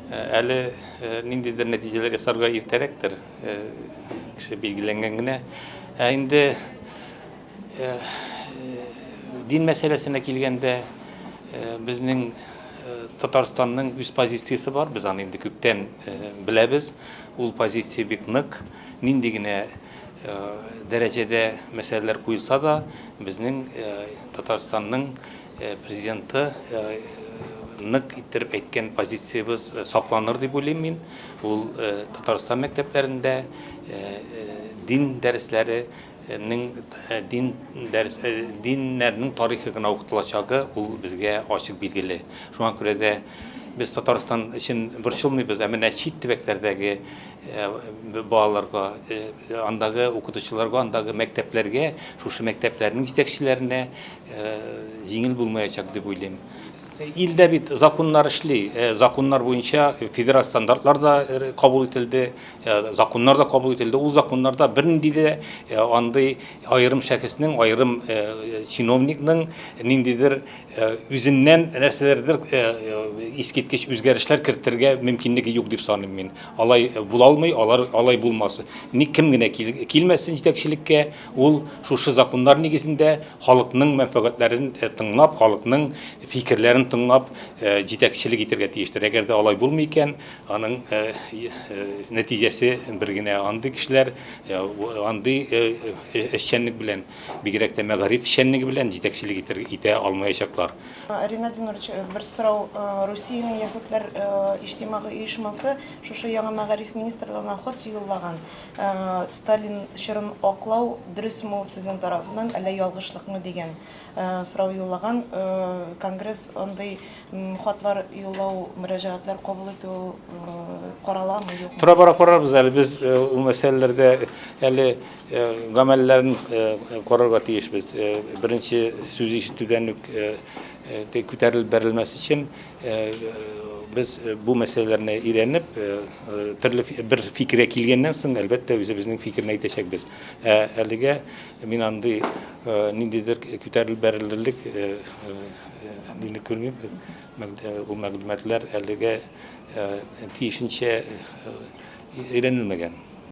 Әле ниндидер нәтиҗәләр ясарга иртәрәктер, кеше билгеләнгән генә. Ә инде дин мәсьәләсенә килгәндә, безнең Татарстанның үз позициясе бар, без аны инде күптән беләбез. Ул позиция бик нык. Нинди генә дәрәҗәдә мәсьәләләр куелса да, безнең Татарстанның Президенты нык иттереп әйткән позициябез сакланыр дип уйлыйм мин. Ул Татарстан мәктәпләрендә дин дәресләре дин дәрес диннәрнең тарихы гына укытылачагы ул безгә ачык билгеле. Шуңа күрә дә без Татарстан өчен борчылмыйбыз, ә менә чит төбәкләрдәге балаларга, андагы укытучыларга, андагы мәктәпләргә, шушы мәктәпләрнең җитәкчеләренә Җиңел булмаячак дип уйлыйм. Илдә бит законнар эшли, законнар буенча федераль стандартлар да кабул ителде, законнар да кабул ителде. Ул законнарда бернинди дә андый аерым шәхеснең, аерым чиновникның ниндидер үзеннән нәрсәләрдер искиткеч үзгәрешләр кертергә мөмкинлеге юк дип саныйм мин. Алай була алмый, алар алай булмас. Ник кем генә килмәсен җитәкчелеккә, Ул шушы законнар нигезендә халыкның мәнфәгатьләрен тыңлап, халыкның фикерләрен тыңлап җитәкчелек итәргә тиештер. Әгәр дә алай булмый икән, аның нәтиҗәсе бер генә, андый кешеләр андый эшчәнлек белән, бигрәк тә мәгариф эшчәнлеге белән җитәкчелек итә алмаячаклар. Ринат Зинурович, бер сорау. Русиянең яһүдләр иҗтимагый оешмасы шушы яңа мәгариф министрлыгына хот юллаган. Сталин чорын аклау дөресме ул сезнең тарафыннан, әллә ялгышлыкмы дигән сорау юллаган Конгресс андый хатлар юллау, мөрәҗәгатьләр кабул итү караламы, юкмы? Тора-бара карарбыз әле. Без ул мәсьәләләрдә әле гамәлләрен карарга тиешбез. Беренче сүз ишетүдән үк күтәрелеп бәрелмәс өчен. Без бу мәсьәләләрне өйрәнеп, төрле бер фикергә килгәннән соң, әлбәттә, үзебезнең фикерне әйтәчәкбез. Ә әлегә мин андый ниндидер күтәрелеп бәрелерлек нилек күрмим. Ул мәгълүматлар әлегә тиешенчә өйрәнелмәгән.